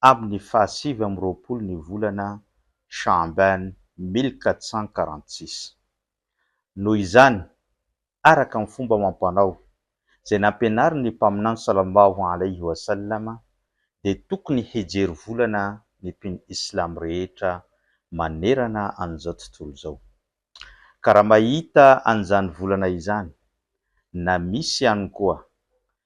amin'ny faha sivy amby roapolo ny volana Sha'aban mille quatre cent quarante six. Noho izany, araka ny fomba amam-panao izay nampianarin'ny Mpaminany Sallallahu alaihi wa sallam dia tokony hijery volana ny mpino islamo rehetra manerana an'izao tontolo izao. Ka raha mahita an'izany volana izany, na misy ihany koa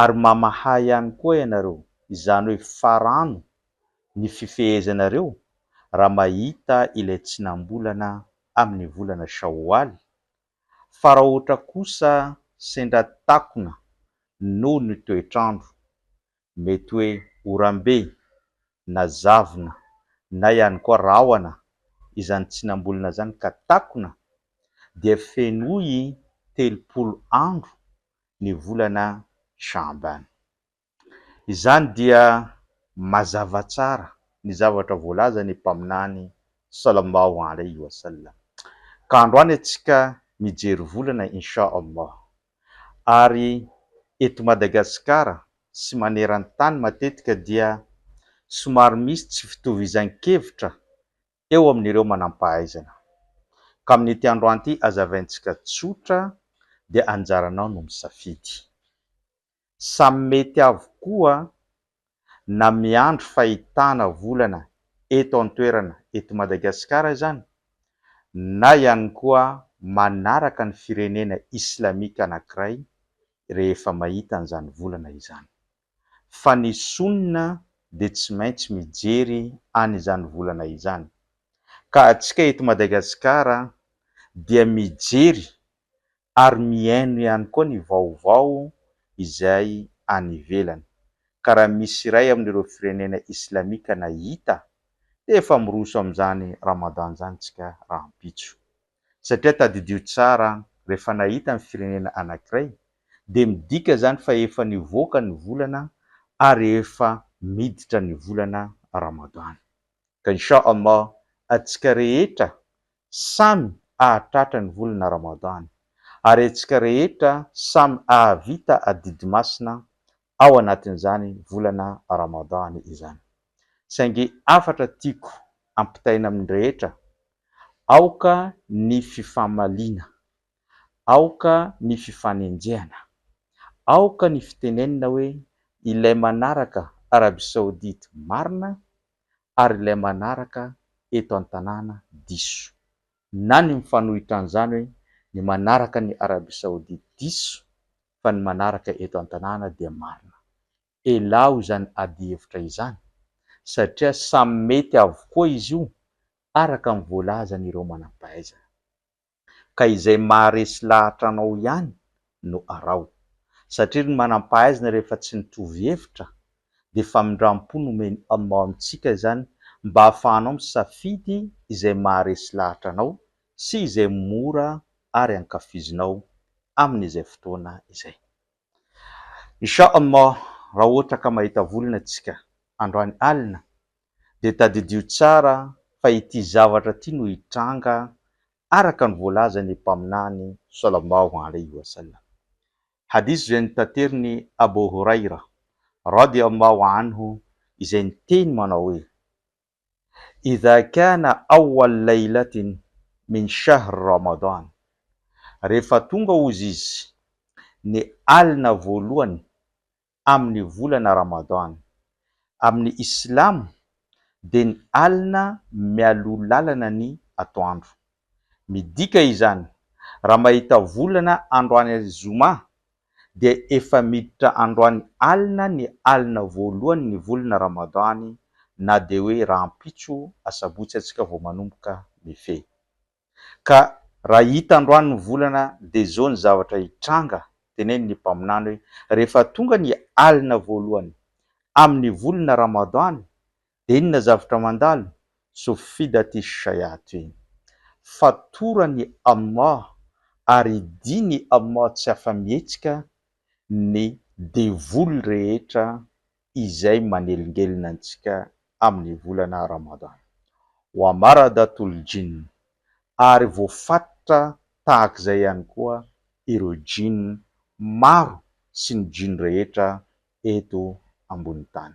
Ary mamaha ihany koa ianareo, izany hoe farano ny fifehezanareo raha mahita ilay tsinam-bolana amin'ny volana Shaowaly, fa raha ohatra kosa sendra takona noho ny toetr'andro, mety hoe oram-be, na zavona, na ihany koa rahona izany tsinam-bolana izany ka takona, dia fenoy telopolo andro ny volana Sha'ban. Izany dia mazava tsara ny zavatra voalazan' ny Mpaminany sallallahu alayhi wa sallam, Ka androany antsika mijery volana in sha Allah, ary eto Madagasikara sy maneran-tany matetika dia somary misy tsy fitovizan-kevitra eo amin'ireo manam-pahaizana. Ka amin'ity androan'ity hazavaintsika tsotra dia anjaranao no misafidy. Samy mety avokoa na miandry fahitana volana eto an-toerana eto Madagasikara izany na ihany koa manaraka ny firenena islamika anankiray rehefa mahita an'izany volana izany. fa ny sonina dia tsy maintsy mijery an' izany volana izany, ka antsika eto Madagasikara dia mijery ary mihaino ihany koa ny vaovao izay any ivelany, ka raha misy iray amin' ireo firenena islamika na hita dia efa miroso amin' izany Ramadan izany isika rahampitso. satria tadidio tsara an, rehefa nahita ny firenena anankiray dia midika izany fa efa nivoaka ny volana ary efa miditra ny volana Ramadan. Ka Insha Allah atsika rehetra samy ahatratra ny volana Ramadan ary atsika rehetra samy ahavita adidy masina ao anatin'izany volana Ramadan izany. Saingy hafatra tiako ampitaina amin'ny rehetra, aoka ny fifamaliana, aoka ny fifanenjehana, aoka ny fitenenina hoe ilay manaraka Arabie Saoudite marina ary ilay manaraka eto an-tanàna diso, na ny mifanohitra an'izany hoe ny manaraka ny Arabie Saoudite diso fa ny manaraka eto an-tanàna dia marina. Elaho izany adihevitra izany satria samy mety avokoa izy io araka ny voalazan'ireo manam-pahaizana. Ka izay maharesy lahatra anao ihany no araho satria ry manam-pahaizana rehefa tsy mitovy hevitra dia famindram-po nomen'i Allah amintsika izany mba hahafahanao misafidy izay maharesy lahatra anao sy izay mora ary ankafizinao amin'izay fotoana izay. Insha Allah raha ohatra ka mahita volana tsika androany alina dia tadidio tsara fa ity zavatra ity no hitranga araka ny voalazan'ny Mpaminany Sallallahu Alaihi Wasallam. Hadith izay notaterin'i Abu Huraira Radi Allahu Anhu izay niteny manao hoe, Idha kana awal laylatin min shahr Ramadan, rehefa tonga hozy izy ny alina voalohany amin'ny volana Ramadan, amin'ny Islamo dia ny alina mialoha lalana ny atoandro. Midika izany, raha mahita volana androany Zoma dia efa miditra androany alina ny alina voalohany ny volana Ramadany na dia hoe rahampitso asabotsy antsika vao manomboka mifehy. Ka raha hita androany ny volana dia izao ny zavatra hitranga teneny ny mpaminany hoe rehefa tonga ny alina voalohany amin'ny volana Ramadany Dia inona zavtra mandalo? Sofida ty shayat iny. Fatoran i Allah ary idin i Allah tsy afa-mihetsika ny devoly rehetra izay manelingelina antsika amin ny volana Ramadan. Wa maradatul jinn ary voafatotra tahaka izay ihany koa ireo jinn maro sy ny jinn rehetra eto ambony tany.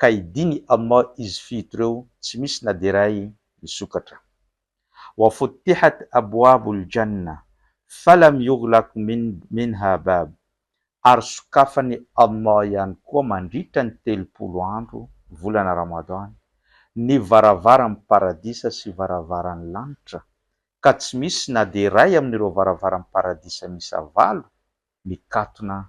ka hidiny amma izy fito ireo tsy misy na dia iray misokatra. Wa futtihat abwabul jannah falam yughlaq minha bab ary sokafany Allah ihany koa mandritra ny telopolo andro, volana Ramadan, ny varavaran'ny paradisa sy varavaran'ny lanitra ka tsy misy na dia iray amin'ireo varavaran'ny paradisa miisa valo mikatona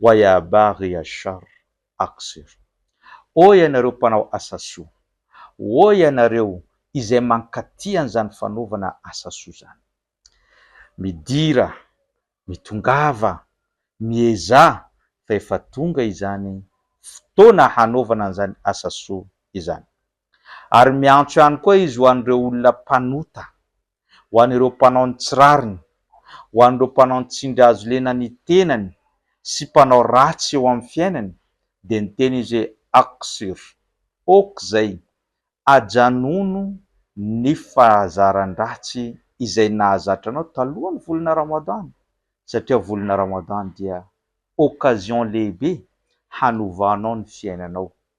wa ya baghi ash-sharr aqsir. Ô ianareo mpanao asa soa! Ô ianareo izay mankaty an'izany fanaovana asa soa izany! Midira, mitongava, miezaha fa efa tonga izany fotoana hanaovana an'izany asa soa izany. Ary miantso ihany koa izy ho an'ireo olona mpanota. ho an'ireo mpanao ny tsy rariny, ho an'ireo mpanao ny tsindry hazo lena ny tenany sy mpanao ratsy eo amin'ny fiainany, dia niteny izy hoe, Aksur! ok izay! Ajanòno ny fahazaran-dratsy izay nahazatra anao talohan'ny volana Ramadan, satria volana Ramadan dia occasion lehibe hanovanao ny fiainanao.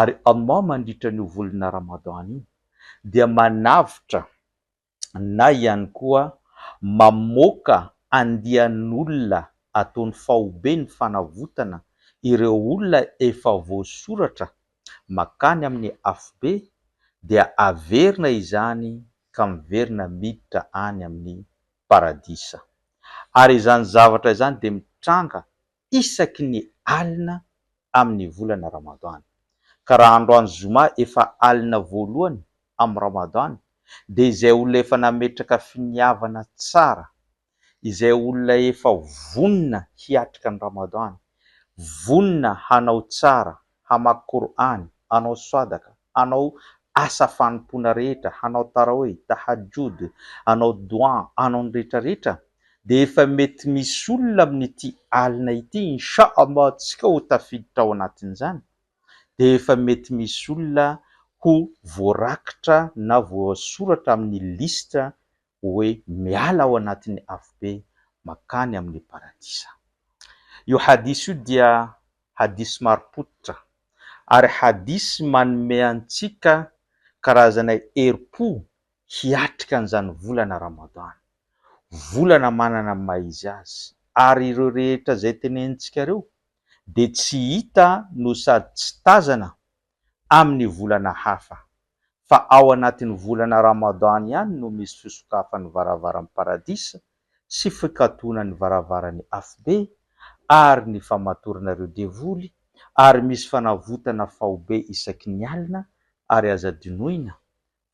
Ary Allah mandritra an'io volana Ramadan io dia manavotra na ihany koa mamoaka andian'olona ataony faobe ny fanavotana ireo olona efa voasoratra makany amin'ny Afobe dia averina izany ka miverina miditra any amin'ny Paradisa. Ary izany zavatra izany dia mitranga isaky ny alina amin'ny volana Ramadan. Ka raha androany Zoma efa alina voalohany amin'ny Ramadan dia izay olona efa nametraka finiavana tsara, izay olona efa vonona hiatrika ny Ramadan, vonona hanao tsara, hamaky Kor'any, hanao swadaka, hanao asa fanompoana rehetra, hanao tarawih, tahajjud, hanao dua, hanao ny rehetra rehetra, dia efa mety misy olona amin'ity alina ity inshallah antsika ho tafiditra ao anatin'izany, dia efa mety misy olona ho voarakitra na voasoratra amin'ny liste hoe miala ao anatin'ny afobe mankany amin'ny paradisa. Io hadis io dia hadis marim-pototra ary hadis manome antsika karazana herim-po hiatrika an'izany volana Ramadan, volana manana ny maha izy azy, ary ireo rehetra izay tenenintsika ireo dia tsy hita no sady tsy tazana amin'ny volana hafa, fa ao anatin'ny volana Ramadan ihany no misy fisokafan'ny varavaran'ny Paradisa sy fikatonan'ny varavaran'ny Afobe ary ny famatorana ireo devoly, ary misy fanavotana faobe isaky ny alina, ary aza dinoina,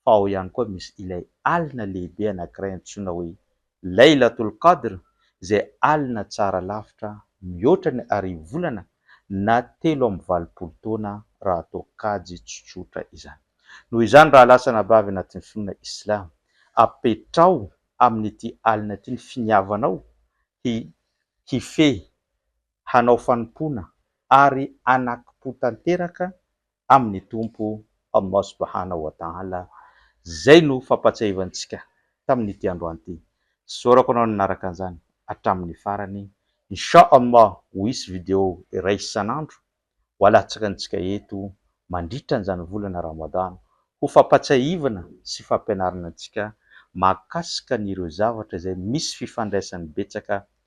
fa ao ihany koa misy ilay alina lehibe anankiray antsoina hoe Laylatul Qadr izay alina tsara lavitra mihoatra ny arivo volana na telo amby valopolo taona raha atao kajy tsotsotra izany. Noho izany raha lasa anabavy anatin'ny finoana Islam, apetraho amin'ity alina ity ny finiavanao hi hifehy, hanao fanompoana ary hanakim-po tanteraka amin'ny Tompo Allah subhanahu wa ta'ala Izay no fampahatsiahivantsika tamin'ity androany ity. Isaorako anao nanaraka an'izany hatramin'ny farany. Insha Allah ho hisy video iray isan'andro ho alatsaka antsika eto mandritra an'izany volana Ramadan ho fampahatsiahivana sy fampianarana antsika mahakasika an'ireo zavatra izay misy fifandraisany betsaka